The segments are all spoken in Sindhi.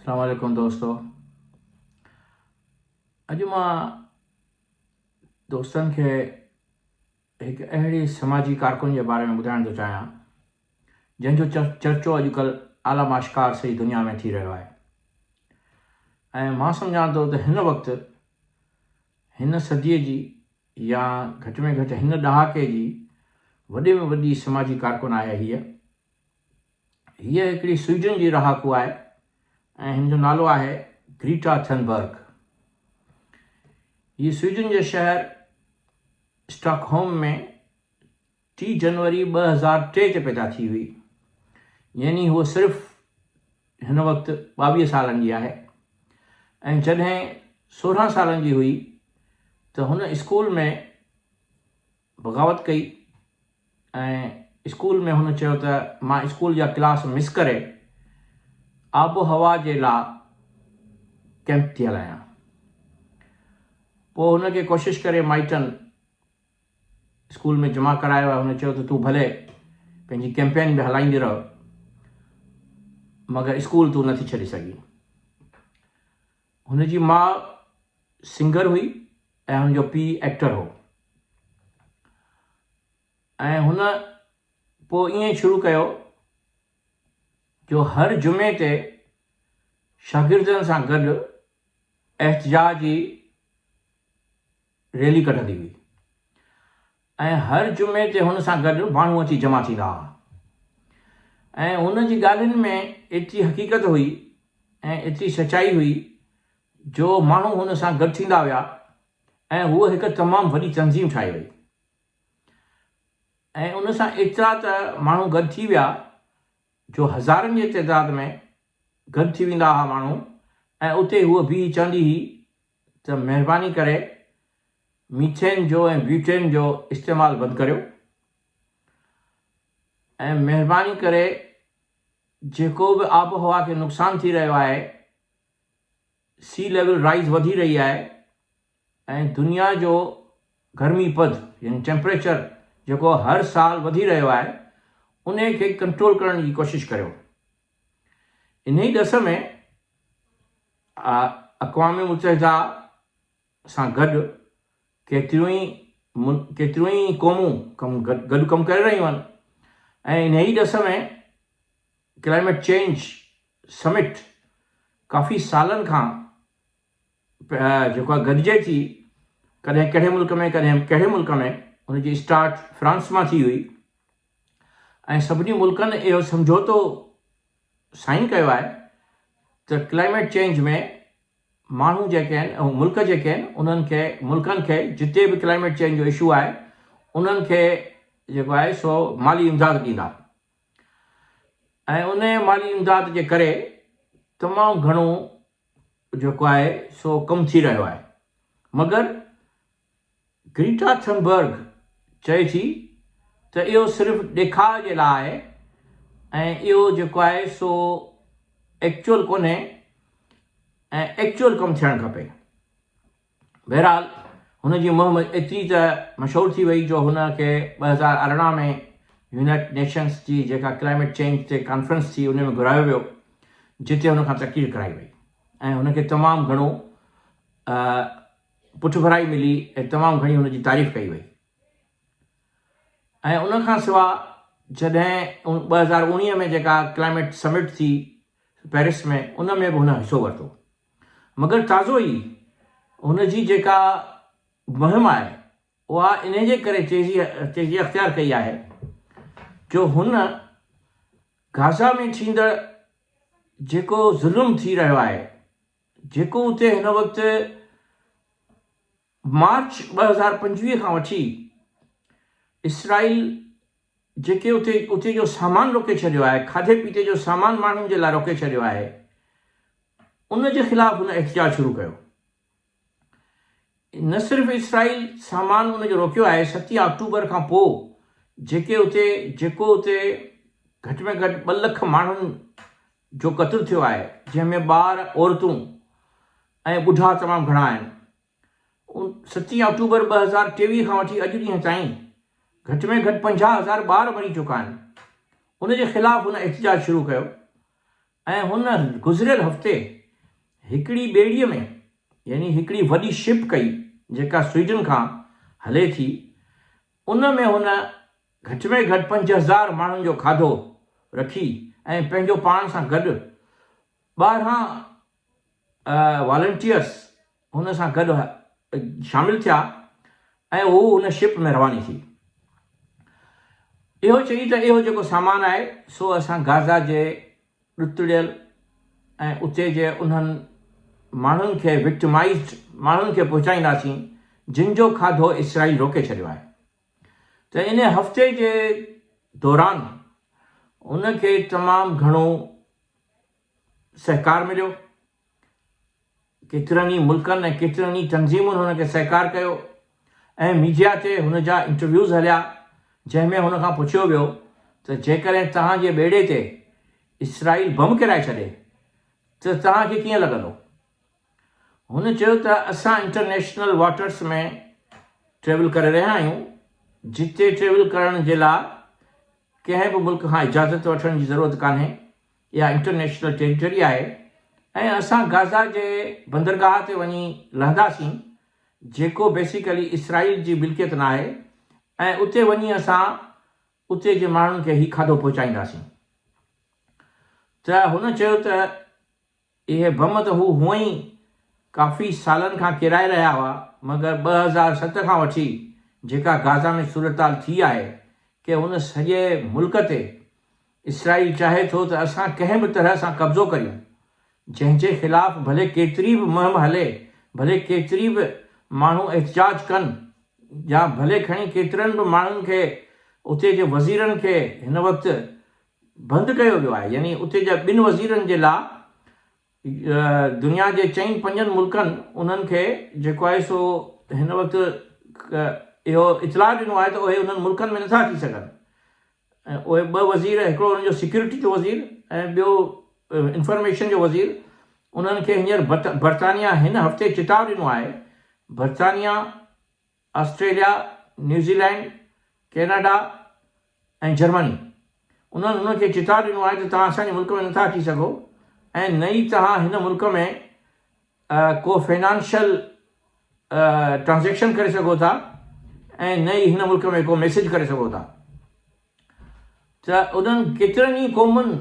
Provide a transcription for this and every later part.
اسلام عليڪم دوستو اڄ مان دوستن کي هڪ اهڙي سماجي ڪارڪن جي باري ۾ ٻڌائڻ ٿو چاهيان جنهن جو چرچو اڄڪلهه عالم آشڪار سڄي دنيا ۾ ٿي رهيو آهي ۽ مان سمجهان ٿو ته هن وقت هن صديء جي يا گهٽ ۾ گهٽ هن ڏهاڪي جي وڏي ۾ وڏي سماجي ڪارڪن آهي هيء هيء هڪڙي سوئيڊن جي رهاڪو آهي ۽ هن جو نالو آهي گريٽا ٿنبرگ. هيء سوئيڊن جي شهر اسٽاڪهوم ۾ ٽي جنوري ٻه هزار ٽي تي پيدا ٿي هئي، يعني هوء صرف هن وقت ٻاويهه سالن جي آهي ۽ جڏهن سورهن سالن جي هئي ته هن اسڪول ۾ بغاوت ڪئي ۽ اسڪول ۾ هن چيو ته مان اسڪول جا ڪلاس مس ڪري آبوهوا جي لا ڪئمپ ٿي هلايان. پوء هن کي ڪوشش ڪري مائٽن اسڪول ۾ جمع ڪرايو ۽ هن چيو ته تون ڀلي پنهنجي ڪئمپين به هلائيندي رهه مگر اسڪول تون نه ٿي ڇڏي سگهين. هن جي ماء سنگر هئي ۽ هن جو پيء ايڪٽر هو ۽ هن پوء ائين شروع ڪيو جو هر جمعي تي شاگردن سان گڏ احتجاجي ريلي ڪڍندي هئي ۽ هر جمعي تي هن سان گڏ ماڻهو اچي جمع ٿيندا هئا ۽ هن جي ڳالهين ۾ ايتري حقيقت هئي ۽ ايتري سچائي هئي جو ماڻهو هن سان گڏ ٿيندا ويا ۽ هوء هڪ تمام وڏي تنظيم ٺاهي وئي ۽ ان سان ايترا ته ماڻهو گڏ ٿي ويا جو هزارن جي تعداد ۾ گڏ ٿي ويندا هئا ماڻهو ۽ اتي هوء بيهي چوندي هئي ته مهرباني ڪري ميٿين جو ۽ بيوٽين جو استعمال بند ڪريو ۽ مهرباني ڪري جيڪو به آبهوا کي نقصان ٿي رهيو آهي سي ليول رائيز وڌي رهي آهي ۽ دنيا جو گرمي پد يعني ٽيمپريچر جيڪو هر سال وڌي رهيو آهي انهي کي ڪنٽرول ڪرڻ جي ڪوشش ڪريو. انهيء ڏس ۾ اقوام متحده سان گڏ ڪيتريون ئي قومون گڏ ڪم ڪري رهيون آهن ۽ انهيء ڏس ۾ ڪلائيميٽ چينج سمٽ ڪافي سالن کان جيڪو آ گڏجي ٿي ڪڏهن ڪهڙي ملڪ ۾ ڪڏهن ڪهڙي ملڪ ۾ ان جي اسٽارٽ فرانس مان ٿي هئي ۽ سڀني ملڪن اهو سمجهوتو سائن ڪيو آهي ته ڪلائميٽ چينج ۾ ماڻهو جيڪي آهن ۽ ملڪ جيڪي آهن انهن کي ملڪن کي جتي به ڪلائميٽ چينج جو اشو آهي انهن کي جيڪو آهي سو مالي امداد ڏيندا ۽ ان مالي امداد جي ڪري تمام گهڻو جيڪو آهي سو ڪم ٿي رهيو آهي مگر گريٽا ٿنبرگ چئي ٿي ته اهو صرف ڏيکاء جي لاء آهي ۽ اهو جيڪو آهي سو ايڪچوئل ڪونهي ۽ ايڪچوئل ڪم ٿيڻ کپي. بهرحال هن جي مهم ايتري ته مشهور ٿي وئي جو هن کي ٻه هزار ارڙهن ۾ يونائيٽڊ نيشنز جي جيڪا ڪلائميٽ چينج تي ڪانفرنس ٿي ان ۾ گهرايو ويو جتي هن کان تقرير ڪرائي وئي ۽ هن کي تمام گهڻو پٺڀرائي ملي ۽ تمام گهڻي هن جي تعريف ڪئي وئي ۽ ان کان سوا جڏهن ٻه هزار اوڻيهه ۾ جيڪا ڪلائميٽ سمٽ ٿي پيرس ۾ ان ۾ به هن حصو ورتو مگر تازو ئي هن جي جيڪا مهم آهي اها انهيء جي ڪري تيزي اختيار ڪئي آهي جو هن غازا ۾ ٿيندڙ جيڪو ظلم ٿي رهيو آهي، جيڪو اتي هن وقت مارچ ٻه هزار پنجويهه کان وٺي اسرائيل جيڪي اتي اتي جو سامان روڪي ڇڏيو آهي، کاڌي پيتي جو سامان ماڻهن جي لاء روڪي ڇڏيو آهي، ان جي خلاف هن احتجاج شروع ڪيو. نه صرف اسرائيل سامان ان جو روڪيو آهي، ستين آڪٽوبر کان پوء جيڪي اتي جيڪو اتي گهٽ ۾ گهٽ ٻه لک ماڻهن جو قتل ٿيو آهي جنهن ۾ ٻار، عورتون ۽ ٻڍا تمام گهڻا آهن. ستين آڪٽوبر ٻه هزار ٽيويهه کان وٺي اڄ ڏينهن تائين گهٽ ۾ گهٽ پنجاهه هزار ٻار مري چڪا آهن. ان جي خلاف هن احتجاج شروع ڪيو ۽ هن گذريل هفتي هڪڙي ٻيڙي ۾ يعني هڪڙي وڏي شپ ڪئي جيڪا سوئيڊن کان هلي ٿي ان ۾ هن گهٽ ۾ گهٽ پنج هزار ماڻهن جو کاڌو رکي ۽ پنهنجو پاڻ سان گڏ ٻارهن والنٽيئرز هن سان گڏ شامل ٿيا ۽ هو هن شپ ۾ رواني ٿي. اهو چئي ته اهو جيڪو سامان آهي سو اسان غازا جي ڏتڙيل ۽ اتي جي انهن ماڻهن کي Victimized ماڻهن کي پهچائينداسين جن جو کاڌو اسرائيل روڪي ڇڏيو آهي. ته ان هفتي جي دوران ان کي تمام گهڻو سهڪار مليو، ڪيترن ئي ملڪن ۽ ڪيترين ئي تنظيمن هن کي سهڪار ڪيو ۽ ميڊيا تي هن جا انٽرويوز هليا جنهن ۾ هن کان پڇيو ويو ته جيڪڏهن توهان جي ٻيڙي تي اسرائيل بم ڪيرائي ڇڏي ته توهان کي ڪيئن لڳندو؟ هن چيو ته اسان انٽرنيشنل واٽرز ۾ ٽريول ڪري رهيا آهيون جتي ٽريول ڪرڻ جي لاء ڪنهن به ملڪ کان اجازت وٺڻ جي ضرورت ڪانهي اها انٽرنيشنل ٽيريٽري آهي ۽ اسان غازا جي بندرگاهه تي وڃي لهنداسين جيڪو بيسيڪلي اسرائيل جي ملڪيت ناهي ۽ اتي وڃي اسان اتي جي ماڻهن کي هي کاڌو پهچائينداسين ته هن چيو ته اهي بم ته هو هونئن ئي ڪافي سالن کان ڪيرائي رهيا هئا، مگر ٻه هزار ست کان وٺي جيڪا غازا ۾ صورتحال ٿي آهي، ڪي ان سڄي ملڪ تي اسرائيل چاهي ٿو ته اسان ڪنهن به طرح سان قبضو ڪريون، جنهن جي خلاف ڀلي ڪيتري به مهم هلي، ڀلي ڪيتري به ماڻهو احتجاج ڪن يا ڀلي کڻي ڪيترن به ماڻهن کي اتي جي وزيرن کي هن وقت بند ڪيو ويو آهي يعني اتي جا ٻن وزيرن جي لا دنيا جي چئن پنجن ملڪن انهن کي جيڪو آهي سو هن وقت اهو اطلاع ڏنو آهي ته اهي انهن ملڪن ۾ نٿا اچي سگهن اهي ٻه وزير هڪڙو انهن جو سيڪيورٽي جو وزير ۽ ٻيو انفارميشن جو وزير انهن کي هينئر برطانيا هن هفتي چتاء ڏنو آهي برطانيا آسٽريليا، نيوزيلينڊ، ڪيناڊا ۽ جرمني انهن هن کي چتاء ڏنو آهي ته توهان اسان جي ملڪ ۾ نٿا اچي سگهو ۽ نه ئي توهان هن ملڪ ۾ ڪو فنانشل ٽرانزيڪشن ڪري سگهو ٿا ۽ نه ئي هن ملڪ ۾ ڪو ميسيج ڪري سگهو ٿا ته انهن ڪيترن ئي قومن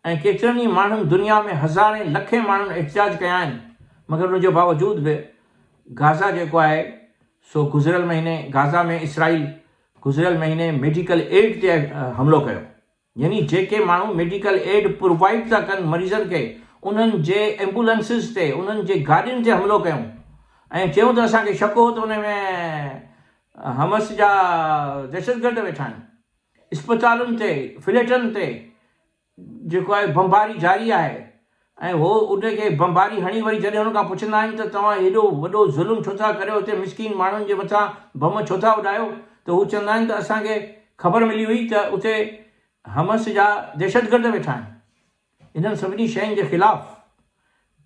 ۽ ڪيترن ئي ماڻهن دنيا ۾ هزارين لکين ماڻهن احتجاج ڪيا آهن مگر ان جي باوجود به غازا جيڪو آهي سو گذريل مهيني غازا ۾ اسرائيل گذريل مهيني ميڊيڪل ايڊ تي حملو ڪيو يعني جيڪي ماڻهو ميڊيڪل ايڊ پرووائيڊ ٿا ڪن مريضن کي انهن جي ايمبولنسز تي انهن جي گاڏين تي حملو ڪيون ۽ چيون ته اسان کي شڪ هو ته ان ۾ حماس جا دهشتگرد ويٺا آهن. اسپتالن تي فليٽن تي جيڪو آهي بمباري جاري آهي ۽ هو ان کي بمباري هڻي وري جڏهن هن کان پڇندا آهن ته توهان هيڏو وڏو ظلم ڇو ٿا ڪريو هتي مسڪين ماڻهن جي مٿان بم ڇو ٿا اڏايو ته هو چوندا آهن ته اسان کي خبر ملي هئي ته اتي حمس جا دهشتگرد ويٺا آهن. انهن سڀني شين جي خلاف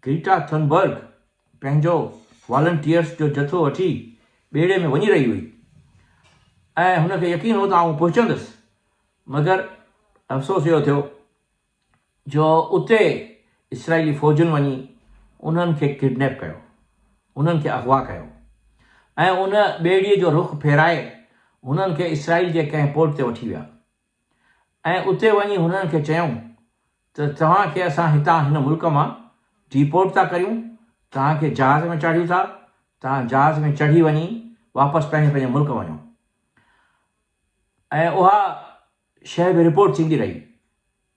گريٽا ٿنبرگ پنهنجو والنٽيئرز جو جٿو وٺي ٻيڙي ۾ وڃي رهي هئي ۽ هن کي يقين هو ته آئون پهچندس مگر افسوس اهو ٿيو جو اتي اسرائيلي فوجن وڃي انهن کي ڪڊنيپ ڪيو انهن کي اغوا ڪيو ۽ ان ٻيڙي جو رخ ڦيرائي هنن کي اسرائيل جي ڪنهن پورٽ تي وٺي ويا. ۽ اتي وڃي هنن کي چيائون ته توهان کي اسان هتان هن ملڪ مان ڊيپورٽ ٿا ڪريون، توهان کي جهاز ۾ چاڙهيون ٿا، توهان جهاز ۾ چڙهي وڃي واپس پنهنجي پنهنجي ملڪ وڃو. ۽ اها شيء به رپورٽ ٿيندي رهي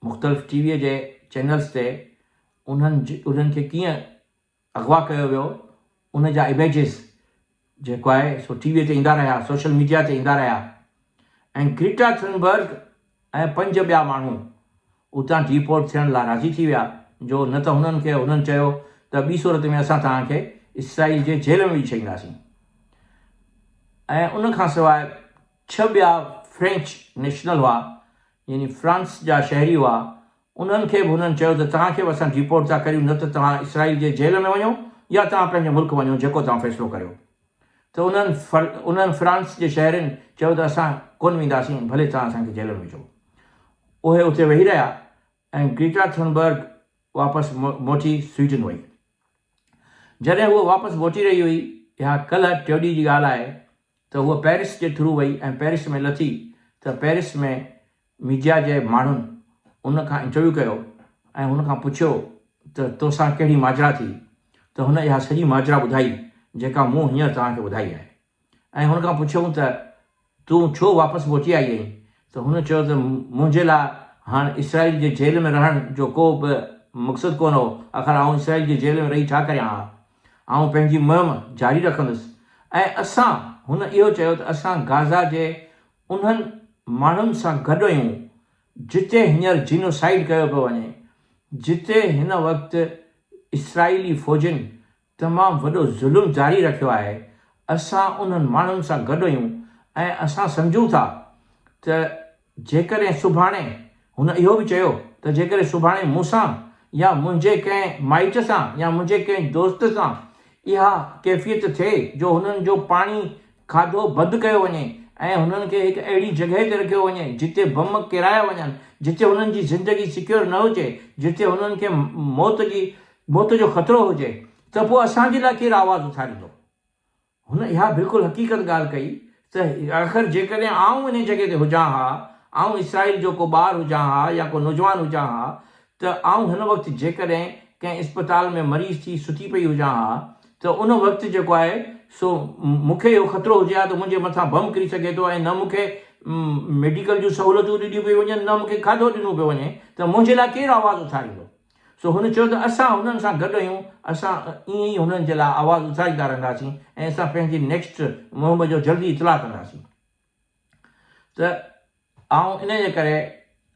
مختلف ٽي ويء جي چينلز تي انهن انهن کي ڪيئن اغوا ڪيو ويو ان جا اميجز جيڪو آهي سو ٽي وي تي ايندا رهيا سوشل ميڊيا تي ايندا رهيا ۽ گريٽا ٿنبرگ ۽ پنج ٻيا ماڻهو اتان ڊيپورٽ ٿيڻ لا راضي ٿي ويا جو نه ته هنن کي هنن چيو ته ٻي صورت ۾ اسان توهان کي اسرائيل جي جيل ۾ وجهي ڇڏينداسين ۽ ان کان سواء ڇهه ٻيا فرينچ نيشنل هئا يعني فرانس جا شهري هئا انهن کي به هنن چيو ته توهان کي به اسان ڊيپورٽ ٿا ڪريون نه ته توهان اسرائيل جي جيل ۾ وڃو يا توهان پنهنجي ملڪ وڃو جيڪو توهان فيصلو ڪريو ته انهن انهن فرانس جي شهرين چيو ته اسان ڪونه وينداسين ڀلي توهان اسان کي جيل ۾ وجهو اهي اتي ويهي رهيا ۽ گريٽا ٿنبرگ واپس موٽي سوئيڊن وئي جڏهن هوء واپس موٽي رهي هئي اها ڪلهه ٽيوڏي جي ڳالهه آهي ته هوء پئرس جي ٿرو وئي ۽ پئرس ۾ لٿي ته پئرس ۾ ميڊيا جي ماڻهن ان کان انٽرويو ڪيو ۽ هن کان پڇيو ته تو سان ڪهڙي ماجرا ٿي ته هن اها سڄي ماجرا ٻڌائي جيڪا مون هينئر توهان کي ٻڌائي آهي ۽ هن کان پڇيائون ته تون ڇو واپس موٽي آئي آهين ته هن چيو ته منهنجي لاء هاڻ اسرائيل جي جيل ۾ رهڻ جو ڪو به مقصد ڪونه هو آخر آئون اسرائيل جي جيل ۾ رهي ڇا ڪريان ها آئون پنهنجي مهم جاري رکندس ۽ اسان هن اهو چيو ته اسان غازا جي انهن ماڻهن سان گڏ هيون جتي هينئر جينوسائيڊ ڪيو پيو وڃي، جتي هن وقت اسرائيلي فوجين تمام وڏو ظلم جاري رکيو آهي، اسان انهن ماڻهن سان گڏ هيون ۽ اسان سمجهون ٿا ته جيڪڏهن سڀاڻي هن اهو به چيو ته جيڪڏهن سڀاڻي مون سان يا منهنجي ڪنهن مائٽ سان يا منهنجي ڪنهن دوست سان اها ڪيفيت ٿئي جو هنن جو پاڻي کاڌو بند ڪيو وڃي ۽ هنن کي هڪ اهڙي جڳهه تي رکيو وڃي جتي بم ڪيرايا وڃن جتي هنن جي زندگي سيڪيور نه هجي جتي هنن کي موت جي موت جو خطرو هجي ته پوء اسان جي لاء ڪير آواز اٿاريندو؟ هن اها بلڪل حقيقت ڳالهه ڪئي ته آخر جيڪڏهن آئون انهي جڳهه تي هجان ها، آئون اسرائيل جو ڪو ٻار هجان ها يا ڪو نوجوان هجان ها ته آئون هن وقت جيڪڏهن ڪنهن اسپتال ۾ مريض ٿي ستي پئي هجان ها ته ان وقت جيڪو آهي سو مون کي اهو خطرو هجي ها ته منهنجي مٿان بم ڪري سگهي ٿو ۽ نه مون کي ميڊيڪل جون سهولتون ڏنيون پيون وڃن نه مون کي کاڌو ڏنو پيو وڃي ته منهنجي لاء ڪير آواز اٿاريندو؟ سو هن چيو ته اسان هنن سان گڏ آهيون، اسان ائين ئي هنن جي لاء آواز اٿاريندا رهنداسين ۽ اسان پنهنجي نيڪسٽ مهم جو جلدي اطلاع ڪنداسين ته آئون ان جي ڪري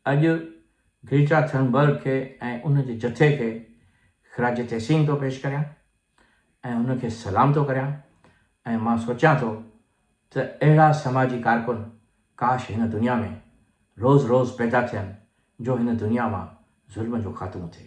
اڄ گريٽا ٿرنبرگ کي ۽ ان جي جٿي کي خراج تحسين ٿو پيش ڪريان. ۽ ان کي سلام ٿو ڪريان ۽ مان سوچيان ٿو ته اهڙا سماجي ڪارڪن ڪاش هن دنيا ۾ روز روز پيدا ٿين جو هن دنيا مان ظلم جو خاتمو ٿئي.